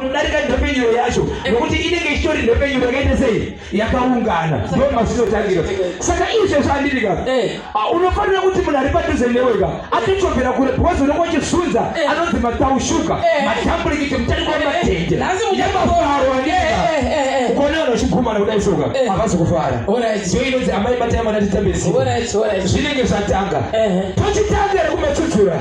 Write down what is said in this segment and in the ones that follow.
unodarika nhepfenyuro yacho nokuti inenge ichitori nhepfenyuro yakaita sei yakaungana ndo mazinotangira saka izve zvandiri ka eh. ah, unofanira kuti munhu ari padhuze newe ka atochovera kure because unenge uchisunza eh. anonzi mataushuka eh. matamburikicho mutariko wamatende yemafaro kona anochigumana kudai soka havazi kufara so inonzi amai batai mwana titambesi zvinenge zvatanga tochitanga rekumatsudzura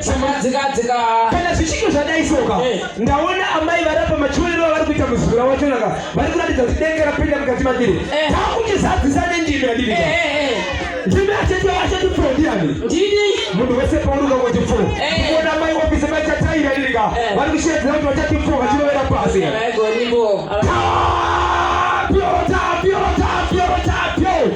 somadzikadzika kana zvichinge zvadai soka eh. ndaona amai varapa machiwerero avari kuita muzukura wachonaka vari kuratidza kuti denge rapinda mukati madiri eh. takutizadzisa nendimi yadiri eh, ndimi achete achete pfuo ndiyani ndini munhu wese pauruka kuti pfuo kuona mai wapise machataira irika vari kushedzera kuti vachati pfuo vachirovera pasi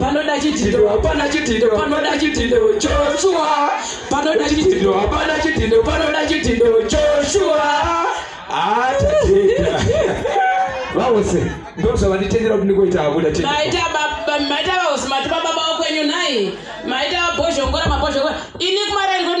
panoda chidhindo hapana chidhindo panoda chidhindo joshua panoda chidhindo hapana chidhindo panoda chidhindo joshua atadeda vavose ndozvavanditendera kuti ndikoita akuda maita vavose mati vababa wakwenyu nhai maita vabhozhongora mabhozhongora ini kumarari kuti